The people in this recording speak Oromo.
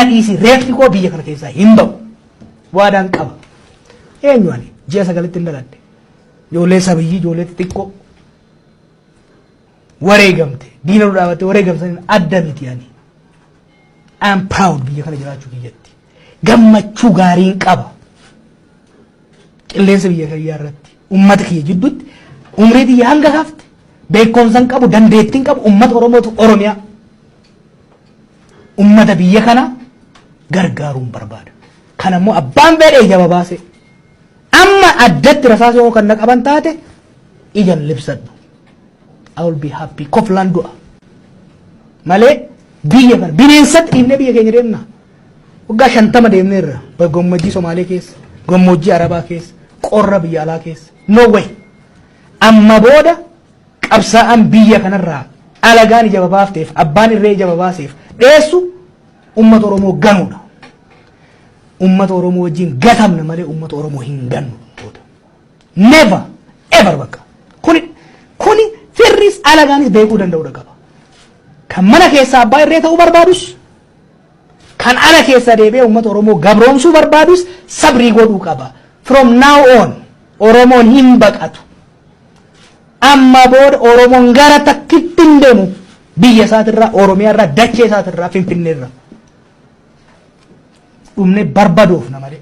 dhiisi reeffi koo biyya kana keessaa hin ba'u waadaan qaba eenyu ani ji'a sagalitti hin dhaladhe ijoollee sabiyyii ijoollee xixiqqoo wareegamte diina nu dhaabatte wareegamsan adda miti ani I am proud biyya kana jiraachuu kiyyatti gammachuu gaariin qaba qilleensa biyya kiyyaa irratti ummata kiyya jidduutti umrii tiyya hanga hafte beekumsan qabu dandeettiin qabu ummata oromootu oromiyaa Ummata biyya kana gargaaruun barbaada. Kan ammoo abbaan beedha ija babaase. Amma addatti rasaasa yoo kan qaban taate ijan libsadhu. I will be happy. Koflaan du'a. Malee biyya kana bineensatti dhiibnee biyya keenya deemna. Waggaa shantama deemneerra. Gammoojjii Somaalee keessa, gammoojjii Arabaa keessa, qorra biyya alaa keessa. No way. Amma booda Qabsaa'aan biyya kanarraa alagaan ija babaafteef, abbaan irree ija babaaseef dheessu ummata Oromoo ganuudha. Ummata Oromoo wajjin gatamna malee ummata Oromoo hin gannu. Never ever bakka. Kuni kuni firris alagaanis beekuu danda'uudha qaba. Kan mana keessaa abbaa irree ta'uu barbaadus kan ala keessa deebi'ee uummata Oromoo gabroomsuu barbaadus sabrii godhuu qaba. From now on Oromoon hin baqatu. Ammaa booda Oromoon gara takkitti hin deemu. Biyya isaatirraa, Oromiyaarraa, dachee isaatirraa, Finfinneerraa. Dhumnee barbadoofna malee.